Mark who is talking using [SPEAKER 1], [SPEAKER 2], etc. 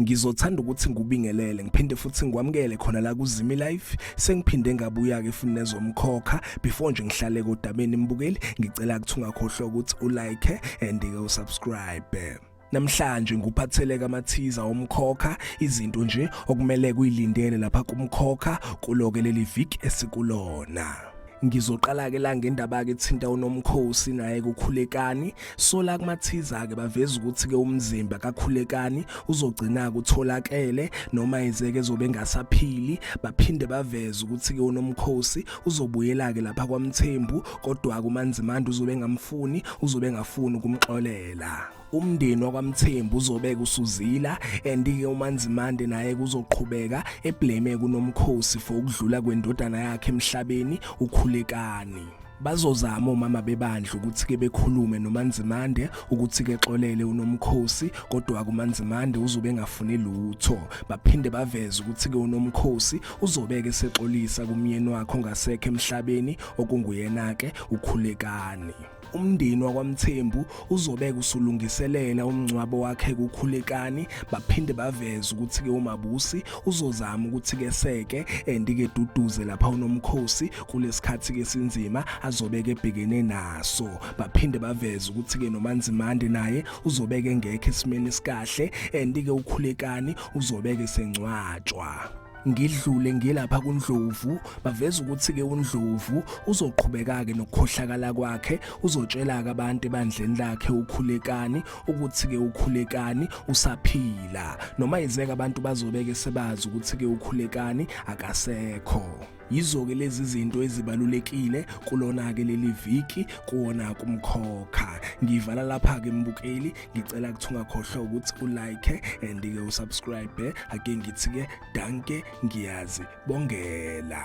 [SPEAKER 1] ngizothanda ukuthi ngubingelele ngiphinde futhi ngikwamukele khona la kuzimi life sengiphinde ngabuya ke futhi nezomkhokha before nje ngihlale kodabeni mbukeli ngicela ukuthi ungakhohlwa ukuthi ulike and ke usubscribe Namhlanje nguphatheleka amathiza omkhokha izinto nje okumele kuyilindele lapha kumkhokha kuloke leli viki esikulona. Ngizoqala ke la ngendaba ke thinta unomkhosi naye kukhulekani sola kumathiza ke baveza ukuthi ke umzimba kakhulekani uzogcina kutholakele noma izeke zobe ngasaphili baphinde baveza ukuthi ke unomkhosi uzobuyela ke lapha kwamthembu kodwa kumanzimanda uzobe engamfuni uzobe engafuni ukumxolela umndeni wakwamthembu uzobeka usuzila andike umanzimande naye kuzoqhubeka eblame kunomkhosi for ukudlula kwendodana yakhe emhlabeni ukhulekani bazozama omama bebandla ukuthi ke bekhulume noManzimande ukuthi ke xolele unomkhosi kodwa kuManzimande uzobe engafuni lutho baphinde baveze ukuthi ke unomkhosi uzobeke sexolisa kumyeni wakho ngasekhe emhlabeni okunguyena-ke ukhulekani umndeni wakwamthembu uzobeka usulungiselela umngcwabo wakhe kukhulekani baphinde baveze ukuthi-ke umabusi uzozama ukuthi-ke seke endike duduze lapha unomkhosi kulesikhathi-ke sinzima azobeke ebhekene naso baphinde baveze ukuthi-ke nomanzimande naye uzobeke ngekho esimeni esikahle endike ukhulekani uzobeke sengcwatshwa ngidlule ngilapha kuNdlovu baveza ukuthi ke uNdlovu uzoqhubeka ke nokukhohlakala kwakhe uzotshela ke abantu ebandleni lakhe ukhulekani ukuthi ke ukhulekani usaphila noma izeke abantu bazobeke sebazi ukuthi ke ukhulekani akasekho Yizo-ke lezi zinto ezibalulekile kulona-ke leli viki kuwona kumkhokha ngivala lapha-ke mbukeli ngicela kuthi ungakhohlwa ukuthi ulike and-ke usubscribe ake ngithi-ke danke ngiyazi bongela